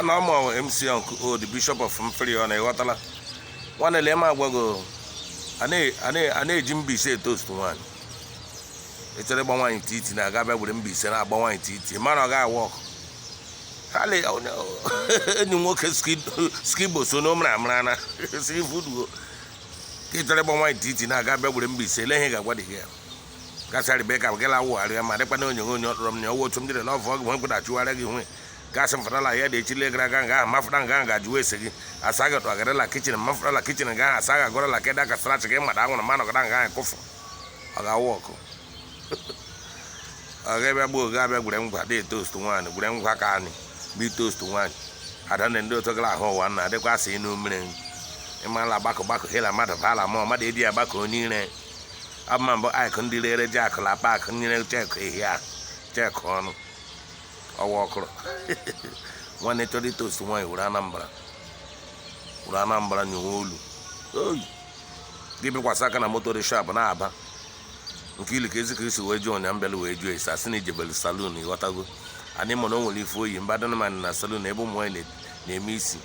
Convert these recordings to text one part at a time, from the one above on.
nwana ọma MC Uncle O the Bishop of Mfiri ọ na-eghọtala nwanne lee m agwago a na-eji mbaise etoast nwaanyị echere ịgba nwaanyị titi na aga bịa were mbaise na-agba nwaanyị titi mara ọ ga-awụ ọkụ enyi nwoke skibo so n'omra amara na si ifuduo ka echere ịgba nwaanyị titi na aga bịa were mbaise ele ihe ga-agwa dị gị ya gasị arịba ka gala awụgharị ya ma dịkwa na onyonyo onye ọtụrụ m na ọ wụ otu m jiri love ọgụ nwe achụgharị gị nwe gasị m fụtala ya dị echile gara aga nga ahụ mafụta nga ahụ ga-ajụ ese gị asa ga tụ agarịla kitchen mafụtala kitchen nga ahụ asa ga agọrọla keda ka strach gị mmadụ anwụrụ ma nọgara nga ahụ kụfụ ọ ga-awụ ọkụ ọ ga-abịa gbuo oge abịa gwere ngwa dị toast nwaanyị gwere ngwa ka anyị bụ toast nwaanyị ada na ndị otu gara ahụ ụwa na adịkwa asị inu mmiri ịmala gbakọ gbakọ hela mmadụ bala ma mmadụ edi ya gbakọ onye ire abụma mbụ akụ ndị rere ji akụ na akpa akụ nyere chekụ ehi ahụ chekụ ọnụ ọ wụ ọkụrụ nwanne chọrọ itoast nwaanyị were anambra were anambra nyewe olu oyi gị bịkwasị aka na moto reshap na-aba nke ili ka ezi ka isi wee jụọ ụnya mbịala wee jụọ esi asị na i jebelu salon ịghọtago anyị mụ na o nwere ife oyi mba dịnụmanị na salon ebe ụmụ nwaanyị na-eme isi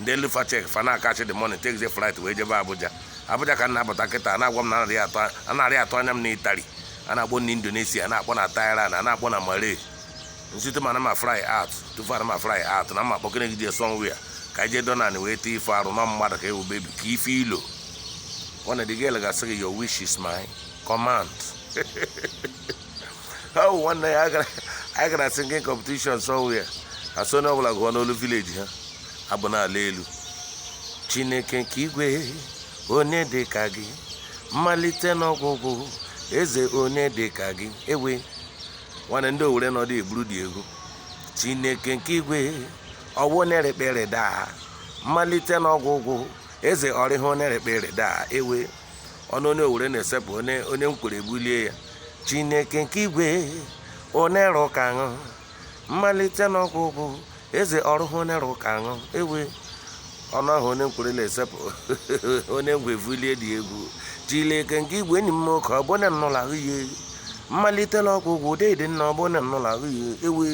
ndị elu fa cheque fa na-akachi the money take the flight wee jebe abuja abuja ka m na-abata kịta na-agwa m na anarị atụ anarị atụ anya m na italy a na-akpọ na indonesia a na-akpọ na thailand a na-akpọ na malay nsite ma na ma fly out tufu ana ma fly out na ma kpọkene gị jee somewhere ka anyị jee donan wee tee ife arụ na mmadụ ka ewu baby ka ife ilo nwanne dị gị gasị gị your wish is my command ọ wụ nwanne ya anyị gara singing competition somewhere a sị onye ọbụla gụọ n'olu village ha abụ na-ala elu chineke nke igwe onye dị ka gị mmalite n'ọgwụgwụ eze onye dị ka gị ewe nwanne ndị owere nọdụ eburu dị egwu chineke nke igwe ọ wụ onye rekpere daa mmalite n'ọgwụgwụ eze ọrịha onye rekpere daa ewe ọnụ onye owere na-esepụ onye nkwere ebulie ya chineke nke igwe onye rụ ka ṅụ mmalite na ọgwụgwụ eze ọrụhụ onye rụ ka ṅụ ewe ọnụ ahụ onye nkwere la-esepụ onye ngwa evulie dị egwu chineke nke igwe enyi m oke ọ bụ onye nnụla ahụ ihe mmalite na ọgwụgwụ deede nna ọ bụ onye nnụla ahụ ihe ewe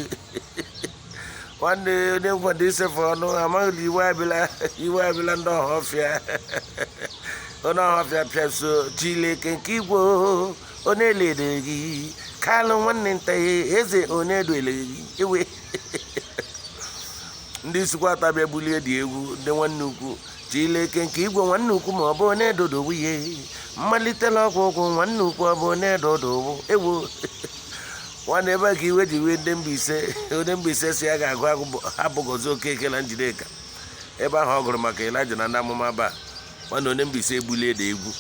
nwanne onye ngwa isefe ọnụ amaghị na iwe abịala iwe abịala ndị ọhafịa onye ọhafịa pịa so chileke nke igwe onye lere gị kalụ nwanne nta ya eze onye dole gị ewe ndị isuikwuatọ bịa bulie dị egwu ndị nwanne ukwu chileke nke igwe nwanne ukwu ma ọ bụ onye dodo nwunye mmalite la ọgwụgwụ nwanne ukwu ọ bụ onye dodo ewo nwanne ebe ka iwe ji wee ndị Mbaise onye Mbaise sị ya ga-agụ agụ abụ Gozie Okeke na Njideka ebe ahụ ọ gụrụ maka Elijah na ndị amụma Baal nwanne onye Mbaise ebulie da egwu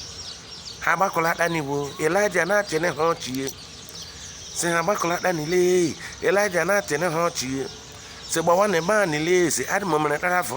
ha gbakọlata n'igbo Elijah na-achịne ha ọchịye sị ha gbakọlata n'ile Elijah na-achịne ha ọchịye sị gbawa na ebe a n'ile si adị m mere tara afọ